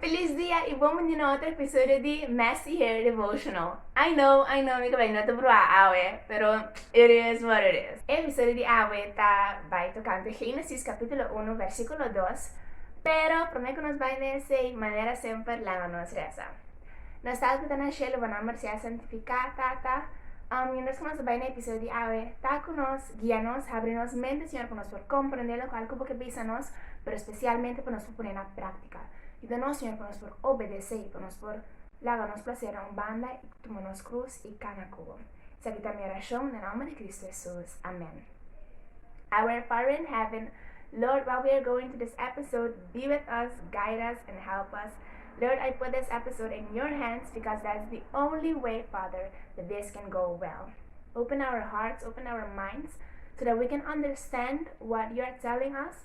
Feliz dia y bon bindi na otro episodio di Messy Hair Devotional. I know, I know mi ka bay no ta bruha awe, pero it is what it is. E episodio di awe ta bay tocante Génesis capítulo uno versículo dos, pero prome cu nos bay na esey, manera semper laga nos reza. Nos Tat cu ta na Shelo, Bo nomber sea santifica, Tata. Um, mientras cu nos ta bay na episodio di awe, ta cu nos, guia nos, habri nos mente Señor pa nos por comprende locual cu Bo ke bisa nos, pero specialmente pa nos pone na práktika. Yuda nos, Señor, pa nos por obedes'é i pa nos por laga nos plasernan un banda i tuma nos krus i kana ku bo. Esaki ta mi orashon na nòmber di Kristu Hesus. Amèn. Our Father in Heaven, Lord, while we are going through this episode, be with us, guide us, and help us. Lord, I put this episode in your hands because that's the only way, Father, that this can go well. Open our hearts, open our minds, so that we can understand what you are telling us,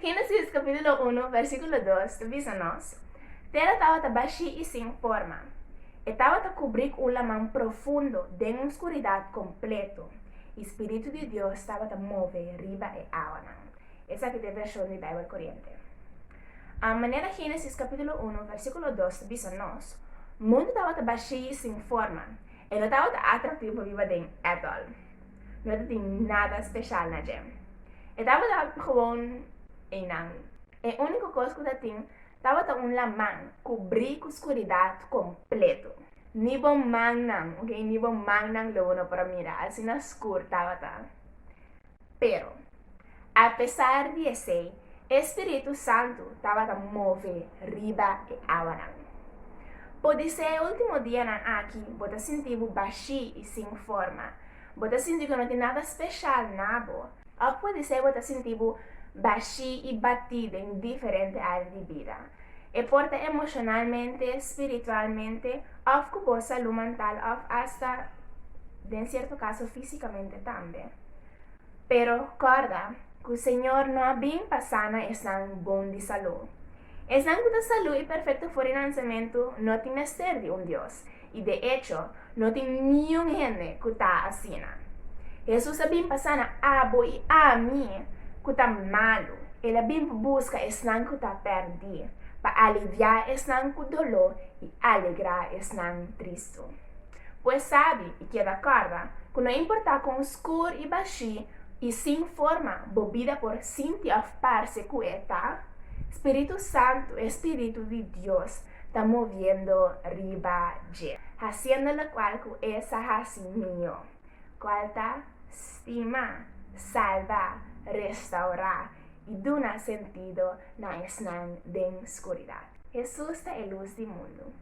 Génesis kapítulo unu, versíkulo dos ta bisa nos, Tera tabata bashí i sin forma. E tabata kubrí ku un laman profundo den un skuridat kompletu, i Spiritu di Dios tabata move riba e awanan. Esaki ta e vershon di Beibel Koriente. A Manera Génesis kapítulo unu, versíkulo dos ta bisa nos, mundu tabata bashí i sin forma. E no tabata atraktivo riba den ètòl. No ta tin nada special na dje. E tabata gewoon einan. E unico cos cu ta tin tabata un laman cubri cu scuridad completo. Ni bo mannan, ok, ni bo mannan logo no por a mira, asina scur tabata. Pero. Apesar di esei, e spiritu santu tabata move riba e awanan. Podisé e último dianan aki bo ta sinti bo bashí i sin forma. Bo ta sinti ku no tin nada speshal na bo. Òf podisé bo ta sinti bo bashí i batí den diferente área di bida. E por ta emoshonalmente, spiritualmente, òf ku bo salú mantal òf asta den sierto kaso físikamente tambe. Pero kòrda ku Señor no a bin pa sana esnan bon di salú. Esnan ku ta salú i perfekto for di nasementu no tin mester di un Dios, i de echo no tin niun hende ku ta asina. Hesus a bin pa sana abo i ami ku ta malu. El a bin pa buska esnan ku ta pèrdí, pa aliviá esnan ku doló i alegrá esnan tristu. Pues sabi i keda kòrda ku no importá kon oskur i bashí i sin forma bo bida por sinti òf parse ku e ta, Spiritu Santu, e Spiritu di Dios, ta moviendo riba dje, hasiendo lokual ku E sa hasi mihó, kual ta, stima, salba, restaurá i duna sentido na esnan den skuridat. Hesus ta e lus di mundu.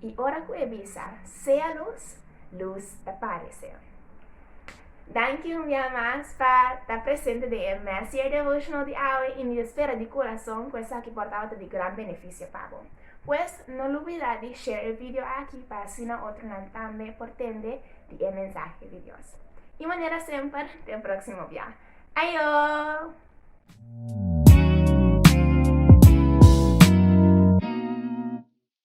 i ora ku e bisa, Sea lus, lus ta parese. Danki un bia mas pa ta presente den e Messier Devotional di awe i mi ta spera di kurason ku esaki por tabata di gran benefisio pa bo. Pues, no lubida di share e video aki pa asina otronan tambe por tende di e mensahe di Dios. I manera semper, te e próksimo bia. Ayo!